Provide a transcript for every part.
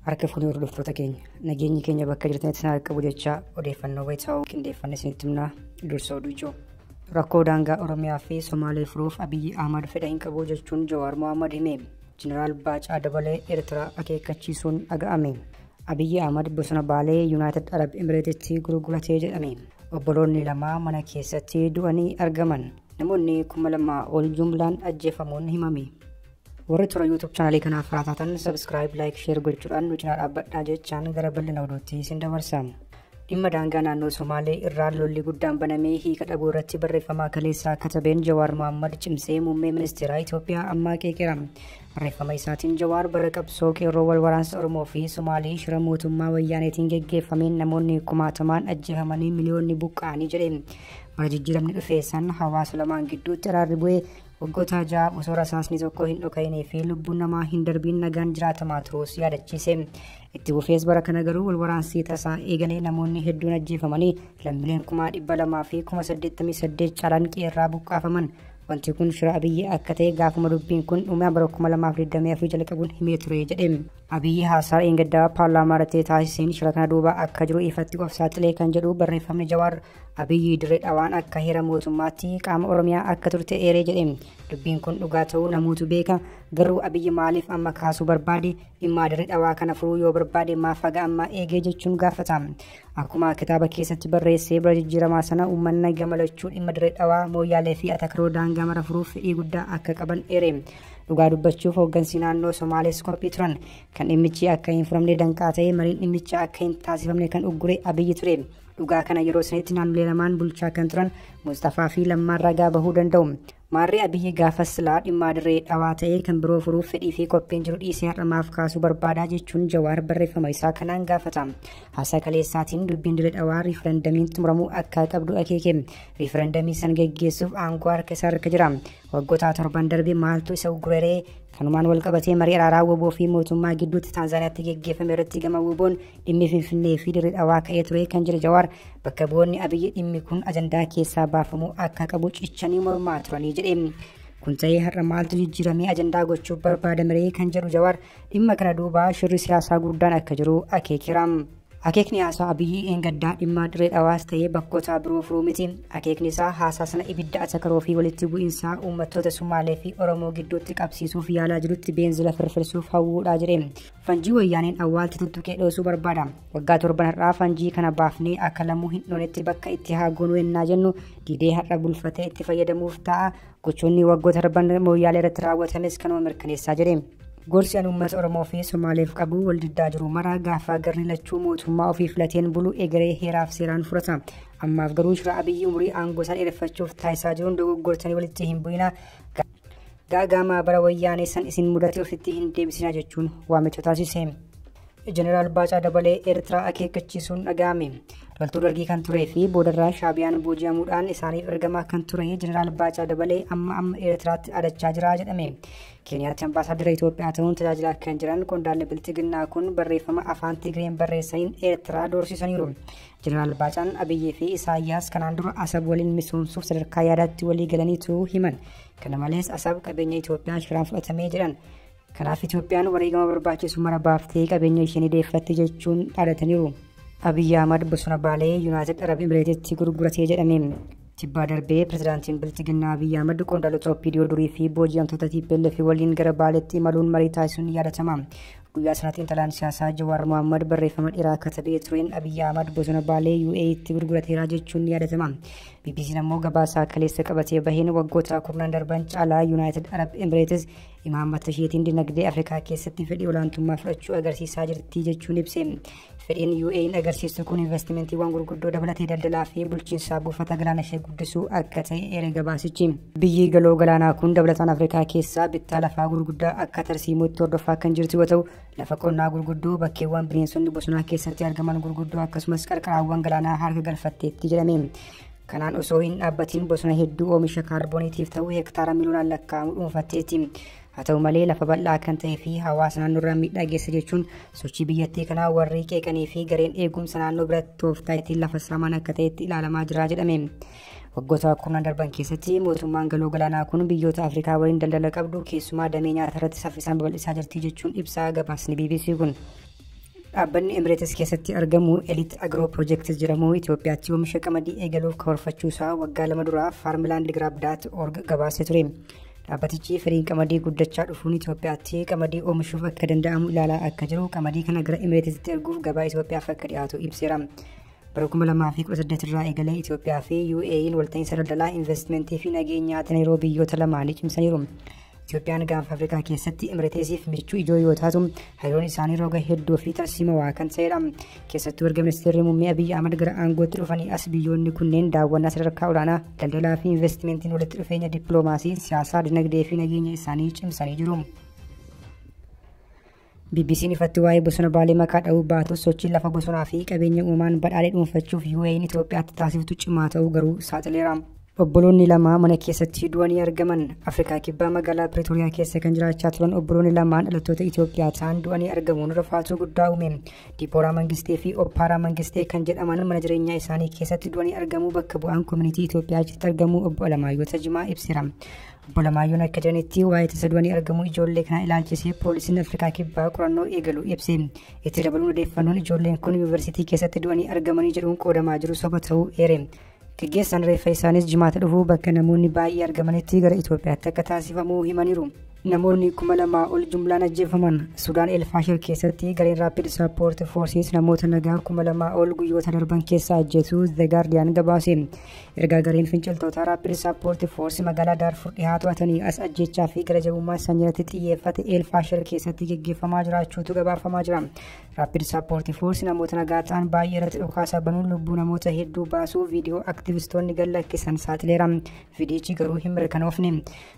harka fuunee hordoftoota keenya nageenyi keenya bakka jirtanitti sana qabu jechaa odeeffannoo wayitaa'uu qindeeffanne isinitti himnaa dursa oduu ijoo. Rakkoo daangaa Oromiyaa fi Somaalee furuuf Abiyyi Ahmad fedha hin qabu jechuun Jawaar Mohaammed hime. Jeneraal Baacaa Dabalee Eertiraa akeekkachiisuun dhaga'ame. Abiyyi Ahmad bosona Baalee Yuunaayitid Arab Emireetitti gurgurate jedhame. Obboloonni lama mana keessatti du'anii argaman. Namoonni kuma lama ol jumlaan ajjeefamuun himame. Warri toora YouTube chaanalii kanaaf haaraa taatan subscribe, like, share gochuudhaan nu cinaa dhaabbadhaa jechaan gara bal'ina oduutti isin dabarsa. Dhimma daangaa naannoo Somaalee irraa lolli guddaan banamee hiika dhabuu irratti barreeffama kaleessaa katabeen Jawaar Mohaammed cimsee muummee ministeeraa Itoophiyaa ammaa qeeqeera. Barreeffama isaatiin Jawaar bara qabsoo qeerroo wal waraansa Oromoo fi Somaalee shira mootummaa wayyaaneetiin geggeeffameen namoonni kumaatamaan ajjeefamanii miliyoonni buqqa'anii jedhe. Bara jijjiiramni dhufee san hawaasa lamaan gidduutti araarri bu'ee waggoota ja'a osoo rasaasni tokko hin dhoka'inii fi lubbuun namaa hin darbiin nagaan jiraatamaa turuus yaadachiise. Itti fufees bara kana garuu wal waraansii tasaa eegalee namoonni hedduun ajjeefamanii lammileen kumaa dhibba lamaa fi kuma saddeettamii saddeet caalaan qeerraa buqqaafaman. Wanti kun shira Abiyyi akka ta'e gaafuma dubbiin kun dhumaa bara kuma lamaa fi digdamii afurii jalqabuun himee ture jedhe. Abiyyi haasaa dheengaddaa paarlaamaa irratti taasiseen shira kana duuba akka jiru ifatti of saaxilee kan jedhu barreeffamni Jawaar Abiyyi dirree dhawaan akka heera mootummaatti qaama Oromiyaa akka turte eeree jedhe. Dubbiin kun dhugaa ta'uu namootu beeka garuu Abiyyi maaliif amma kaasuu barbaade Dhimma Dirree Dhawaa kana furuu yoo barbaade maaf haga ammaa eegee jechuun gaafata. Akkuma kitaaba keessatti barreessee bara jijjiiramaa sana uummanni gama lachuu dhimma Dirree Dhawaa, Mooyyaalee fi Atakaroo daangaa mara furuuf fedhii guddaa akka qaban eere. Dhugaa dubbachuuf hooggansi naannoo Somaalees qophii turan. Kan dhimmichi akka hin furamne danqaa ta'e mariin dhimmicha akka hin taasifamne kan uggure Abiyyi ture. Dhugaa kana yeroo sanitti naannolee lamaan bulchaa kan turan Musxafaa fi Lammaan ragaa bahuu danda'u. Maarree Abiyyi gaafas silaa dhimmaa dirree dhawaa ta'ee kan biroo furuuf fedhii fi qophiin jiru dhiisee har'a maaf kaasuu barbaadaa jechuun Jawaar barreeffama isaa kanaan gaafata. Haasaa kaleessaatiin dubbiin dirree dhawaa riifarandamiin xumuramuu akka qabdu akeeke. Riifarandamii san geggeessuuf aangoo harka isaa harka jira. Waggoota torban darbe maaltu isa uggureree Kanumaan walqabatee marii araaraa woboo fi mootummaa gidduutti Taanzaaniyaatti geggeeffame irratti gama woboon dhimmi Finfinnee fi Dirree Dhawaa ka'ee ture kan jedhe Jawaar bakka bu'oonni Abiyyi dhimmi kun ajandaa keessaa baafamuu akka qabu cichanii mormaa turanii jedhe. Kun ta'ee har'a maaltu jijjiiramee ajandaa gochuuf barbaadameree kan jedhu Jawaar dhimma kana duubaa shirri siyaasaa guddaan akka jiru akeekeera. Akeekni haasaa Abiyyi eengaddaa dhimmaa Dirree Dhawaas ta'ee bakkootaa biroo furuu miti. Akeekni isaa haasaa sana ibidda atakaroo fi walitti bu'insaa uummattoota Sumaalee fi Oromoo gidduutti qabsiisuuf yaalaa jirutti beenzila firfirsuuf hawwuudhaa jedhe. Fanjii wayyaaneen awwaalti tuttuqee dhoosuu barbaada. Waggaa torban har'aa fanjii kana baafnee akka lamuu hin dhoonetti bakka itti haa goonuu ennaa jennu didee har'a bulfatee itti fayyadamuuf ta'a. Gochoonni waggoota darban mooyyaalee irratti raawwatames kanuma mirkaneessaa jedhe. Gorsi an uummata Oromoo fi Somaaleef qabu wal diddaa jiru maraa gaafa garri lachuu mootummaa ofii filateen bulu egeree heeraaf seeraan furata. Ammaaf garuu shira abiyyi umurii aangoo isaa dheereffachuuf taasisaa jiruun dogoggortanii walitti hin bu'ina. Gaagaamaa bara wayyaanee san isin mudate ofitti hin deebisina jechuun waamicha taasise. Jeneraal Baacaa Dabalee Eertiraa akeekkachiisuun dhaga'ame. Loltuu dargii kan turee fi boodarraa shaabiyaan booji'amuudhaan isaaniif ergamaa kan ture Jeneraal Baacaa Dabalee amma amma Eertiraatti adachaa jira jedhame. Keeniyaatti ambaasaaddara Itoophiyaa ta'uun tajaajilaa kan jiran qondaalli bilxiginnaa kun barreeffama afaan Tigreen barreessaniin Eertiraa doorsisaniiru. Jeneraal Baacaan Abiyyii fi Isaayyaas kanaan dura Asab waliin misoomsuuf sadarkaa yaadaatti walii galaniitu himan. Kana malees Asab qabeenya Itoophiyaa shiraan fudhatamee jedhan. Kanaaf Itoophiyaan wareegama barbaachisu mara baaftee qabeenya ishee ni deeffatti jechuun dhaadataniiru. Abiyyi Ahmad bosona Baalee Yuunaayitid Arab Imireetitti gurguratee jedhame. Tibbaa darbee pirezidaantiin Bilxiginnaa Abiyyi Ahmad qondaalota OPDO durii fi booji'amtoota TPLF waliin gara Baaleetti imaluun marii taasisuun ni yaadatama. Guyyaa sana xiinxalaan siyaasaa Jawaar Mohaammed barreeffama dheeraa katabee tureen Abiyyi Ahmad bosona Baalee UAEtti gurgurateera jechuun ni yaadatama. BBC'n ammoo gabaasaa kaleessa qabatee baheen waggoota kurnan darban caalaa Yuunaayitid Arab Emireetis imaammata isheetiin dinagdee Afrikaa keessatti fedhii olaantummaa fudhachuu agarsiisaa jirti jechuun ibse. Fedhiin UAE'n agarsiistu kun investimentiiwwan gurguddoo dabalatee daldalaa fi bulchiinsaa buufata galaana ishee guddisuu akka ta'e eere gabaasichi. Biyyi galoo galaanaa kun dabalataan Afrikaa keessaa bittaa lafaa gurguddaa akka tarsiimootti hordofaa kan jirtu yoo ta'u, lafa qonnaa gurguddoo, bakkeewwan bineensonni bosonaa keessatti argaman gurguddoo akkasumas qarqaraawwan galaanaa harka galfatteetti jedhame. Kanaan osoo hin dhaabbatiin bosona hedduu oomisha kaarbooniitiif ta'u hektaara miliyoonaan lakkaa'amu dhuunfatteetti. Haa ta'u malee lafa bal'aa kan ta'ee fi hawaasa naannoorraa miidhaa geessa jechuun sochii biyyattii kanaa warri qeeqanii fi gareen eegumsa naannoo biratti tooftaa ittiin lafa saaman akka ta'etti ilaalamaa jira jedhame. Waggoota kurnan darban keessatti mootummaan galoo galaanaa kun biyyoota Afrikaa waliin daldala qabdu keessumaa damee nyaata irratti saffisaan babal'isaa jirti jechuun ibsaa gabaasni BBC kun. Dhaabbanni Emireetis keessatti argamu Elite Agro Project jedhamu Itoophiyaatti oomisha qamadii eegaluuf karoorfachuu isaa waggaa lama dura Farmland Grab Dot org gabaasee ture. Dhaabbatichi firiin qamadii guddachaa dhufuun Itoophiyaatti qamadii oomishuuf akka danda'amu ilaalaa akka jiru qamadii kana gara Imireetitti erguuf gabaa Itoophiyaaf akka dhiyaatu ibseera. Bara 2018 irraa eegalee Itoophiyaa fi UAE'n walta'iinsa daldalaa, investimentii fi nageenyaa Teneeroo biyyoota lamaanii cimsaniiru. Itoophiyaan gaanfa Afrikaa keessatti Imireetesiif michuu ijoo yoo taatu, hariiroon isaanii roga hedduu fi tarsiimawaa kan ta'edha. keessattuu erga ministeerri muummee Abiyyi Ahmad gara aangootti dhufanii as biyyoonni kunneen daawwannaa sadarkaa olaanaa daldalaa fi investimentiin walitti dhufeenya dippiloomaasii, siyaasaa, dinagdee fi nageenya isaanii cimsanii jiru. BBC'n ifatti waa'ee bosona baalee maqaa dha'uu baatus sochiin lafa bosonaa fi qabeenya uumaan badhaadhee dhuunfachuuf UAE'n Itoophiyaatti taasiftu cimaa ta'uu garuu saaxileera. Obboloonni lama mana keessatti du'anii argaman Afrikaa Kibbaa magaalaa Piritoriyaa keessa kan jiraachaa turan obboloonni lamaan dhalattoota Itoophiyaa ta'an du'anii argamuun rifaatuu guddaa uume. Dibooraa Mangistee fi Oppaaraa Mangistee kan jedhaman mana jireenyaa isaanii keessatti du'anii argamuu bakka bu'aan koominitii Itoophiyaa achitti argamuu obbo Alamaayyoo Tajimaa ibseera. Obbo Alamaayyoon akka jedhanitti waa'ee tasa du'anii argamuu ijoollee kanaa ilaalchisee poolisiin Afrikaa Kibbaa qorannoo eegalu ibse. Itti dabaluun odeeffannoon ijoolleen kun yuunivarsiitii keessatti du'anii argamanii jedhuun qoodamaa jiru soba ta'uu eere. Geggeessaan reeffa isaaniis jimaata dhufu bakka namoonni baay'ee argamanitti gara Itoophiyaatti akka taasifamu himaniiru. Namoonni kuma lamaa ol jumlaan ajjeefaman Sudaan Elfaashir keessatti gareen Raapid Sappoort Foorsiis namoota nagaa kuma lamaa ol guyyoota darban keessa ajjeesuu The Guardian gabaase. Ergaa gareen finciltootaa Raapid Sappoort Foorsi magaalaa Daarfur dhihaa to'atanii as ajjeechaa fi gara jabummaa sanyirratti xiyyeeffate Elfaashir keessatti geggeeffamaa jiraachuutu gabaafamaa jira. Rapid Support Force namoota nagaa ta'an baay'ee irratti dhukaasa banuun lubbuu namoota hedduu baasuu viidiyoo aktivistoonni gad lakkisan saaxileera. Viidiyichi garuu hin mirkanoofne.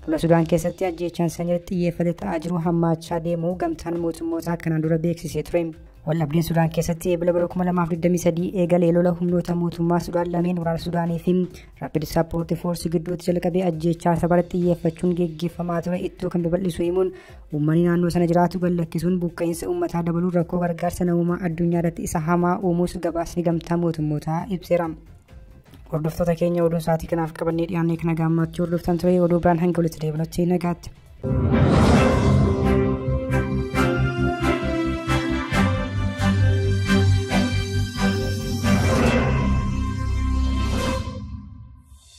Lola Sudaan keessatti ajjeechaan sanyii xiyyeeffate ta'aa jiru hammaachaa deemuu gamtaan mootummootaa kanaan dura beeksisee ture. Waldhabdeen Sudaan keessatti eebila bara 2023 eegalee lola humnoota mootummaa Sudaan lameen waraana Sudaanii fi Rapid Support Force gidduutti jalqabee ajjeechaa sabara xiyyeeffachuun geggeeffamaa ture ittuu kan babal'isu himuun Uummanni naannoo sana jiraatu gad lakkisuun buqqa'insa uummataa dabaluun rakkoo gargaarsa namoomaa addunyaa irratti isa hamaa uumuus gabaasni gamtaa mootummootaa ibseera. Hordoftoota keenya oduu sa'aatii kanaaf qabannee dhiyaannee kana gaammaatti hordoftan ture oduu biraan hanga walitti deebinutti nagaatti.